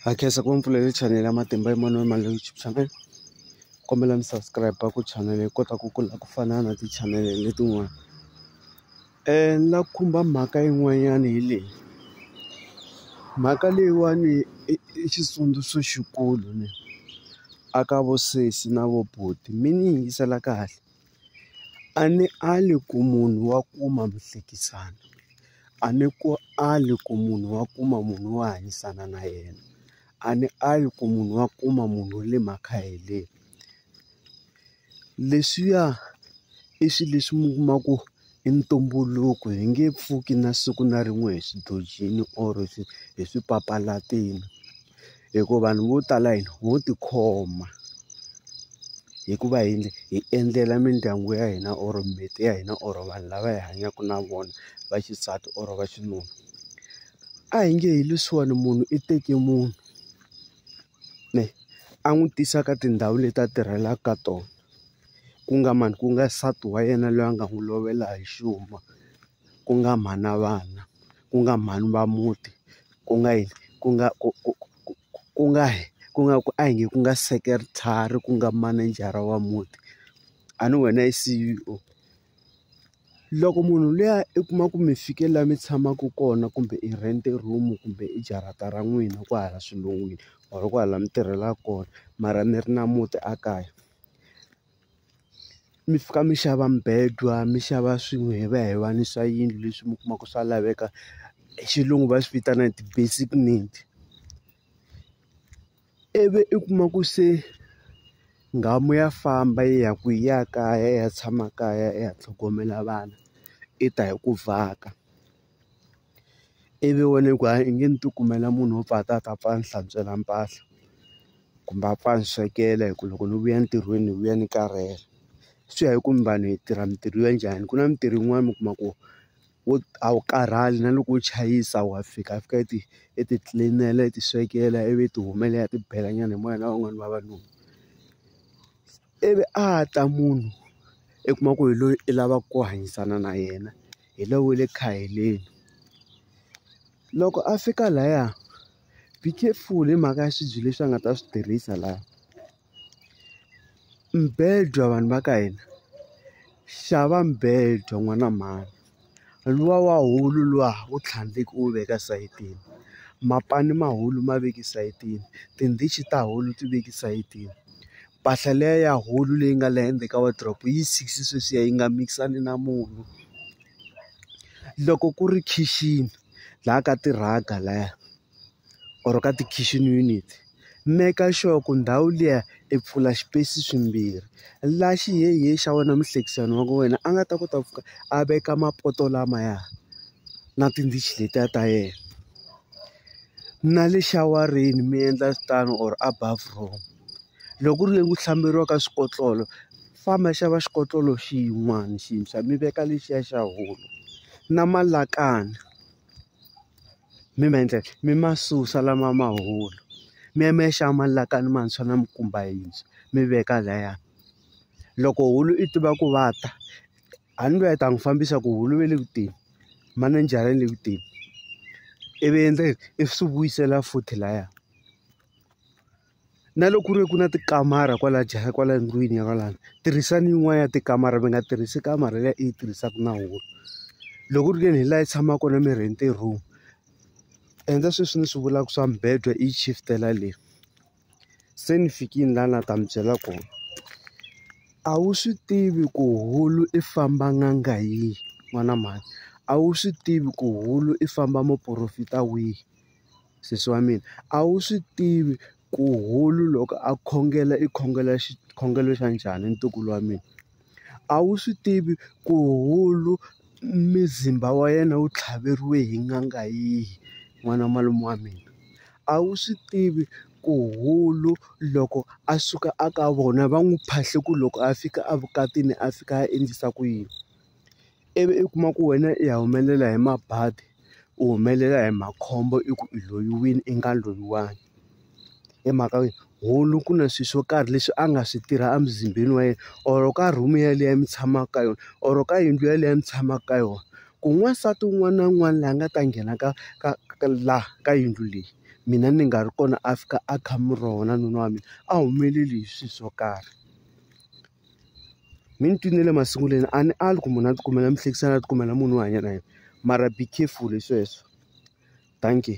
Ha khensa ku va mi pfulele chanele ya Matimba Emmanuel Mali YouTube channel kombela mi subscribe ku channel yi kota ku kula ku fana na ti-channel letin'wana ni la khumba mhaka yin'wanyana hi leyi mhaka leyiwani i xitsundzuxo xikulu ni a ka vo sesi na vo buti mi ni yingisela kahle. A ni ali ku munhu wa kuma muhlekisani a ni ku ali ku munhu wa kuma munhu wo hanyisana na yena a ni ali ku munhu wa kuma munhu wa le makhaheleni leswiya i swi leswi mi kuma ku. I ntumbuluko hi nge pfuki na siku na rin'we hi swi dojini or swi hi swi papalatini hikuva vanhu vo tala hina ho tikhoma hikuva hi hi endlela mindyangu ya hina or mimiti ya hina or vanhu lava hi hanyaka na vona va xisati or va xinuna a hi nge hi leswiwani munhu i teke munhu. kumbe a n'wi tisa ka tindhawu leti a tirhelaka ka tona ku nga mani ku nga nsati wa yena loyi a nga n'wi lovela hi xuma ku nga mhana vana ku nga mhani va muti ku nga yini ku nga ku ku ku ku ku nga ku nga ku a hi nge ku nga secretary ku nga manejara wa muti a ni wena i C_E_O. Loko munhu luya i kuma ku mi fike laha mi tshamaka kona kumbe i rent-e room kumbe i jarata ra n'wina kwahala xilungwini or kwahala mi tirhelaka kona mara mi ri na muti a kaya mi fika mi xava mubedwa mi xava swilo hi va hi va ni swa yindlu leswi mi kumaka swa laveka hi xilungu va swi vitana ti-basic need. Ivi i kuma ku se nghamu ya famba yi ya kwihi? Ya ya kaya yi ya tshama kaya yi ya tlhogomela vana, yi ta hi ku vhaka. Ivi wena ku hayi i nge ni ti kumela munhu wo pfa a ta a ta pfa a ni hlantswela mpahla, kumbe a pfa a ni swekela hi ku loko ni vuya entirhweni ni vuya ni karhele. Swi ya hi ku mi vanhu hi tirha mintirho ya njhani, ku na mintirho yin'wani mi kuma ku. wo a wu karhali na loko u chayisa wa fika fika i ti i ti clean-ela i ti swekela ivi i ti humela i ti bela nyana hi moya na van'wani vavanuna ivi a ta munhu i kuma ku hi loyi i lavaka ku hanyisana na yena hi loyi wa le khaheleni loko a fika laya be careful hi mhaka ya swibye leswi a nga ta swi tirhisa laya. Mubedwa vanhu va ka hina xava mubedwa n'wana mhani luwa wa wulu luwa wu tlhandleki u wu veka sayitini mapani ma wulu ma veke sayitini tindichi ta wulu ti veke sayitini mpahla liya ya wulu leyi nga le ndzeni ka wardrobe yi six sweswiya yi nga mikisani na munhu loko ku ri khixini laha ka ti-rug-a laya. or ka ti-kitchen unit make sure ku ndhawu liya i pfula swipesi swimbirhi la xihehe xa wena muhlekisani wa wena a nga ta kota ku a veka mapoto lamaya na tindichi letiya ta yena na le xiawareni mi endla tano or a bathroom loko ku ri le ku hlamberiwa ka swikotlolo famba xava xikotlolo xin'wana xintshwa mi veka lexiya xa hulu na malakani. mi ma endlela mi ma susa lama ma hola mi ya mi ya xava malakani mantshwa na mikumba yintshwa mi veka lahaya loko wulu i tiva ku va ta a ni loyi a ta n'wi fambisa ku wulu ve le ku teni manejara yi le ku teni ivi endla yini i swi vuyisela futhi lahaya. Na loko ku ri ku na tikamara kwala jahha kwala ndlwini ya kwalano tirhisani yin'wana ya tikamara mi nga tirhisi kamara leyi i yi tirhisaka na wulu loko ku ri ke ni hi laha yi tshamaka kona mi rent-e room endla sweswi ni swi vulaka swa mibedwa i yi shift-ela le se ni fikile laha na ta mi byela kona a wu swi tivi ku wulu i famba n'anga yihi n'wana mhani a wu swi tivi ku wulu i famba muporofita wihi. Sesi wa mina a wu swi tivi ku hulu loko a khongela i khongela xikhongelo xa njhani ntukulu wa mina a wu swi tivi ku hulu muzimba wa yena wu tlhaveriwe hi n'anga yihi n'wana malume wa mina a wu swi tivi ku hulu loko a suka a ka vona va n'wi phahlisa ku loko a fika evukatini a fika a endlisa ku yini. ivi u kuma ku wena i ya humelela hi mabadi u humelela hi makhombo i ku i loyiwile i nga loyiwangi hi mhaka yo hulu ku na swilo swo karhi leswi a nga swi tirha emuzimbeni wa yena or ka room yeleyo mi tshamaka ka yona or ka yindlu yeleyo mi tshamaka ka yona ku n'wansati un'wana na un'wana laha nga ta nghena ka ka ka laha ka yindlu leyi mina ni nga ri kona a fika a kha mi rona nuna wa mina a humeleli hi swilo swo karhi. Mi ni twini le masungulweni a ni ali ku munhu a tikumela muhlekisani a tikumela munhu wo hanya na yena mara be careful hi sweswo dankie.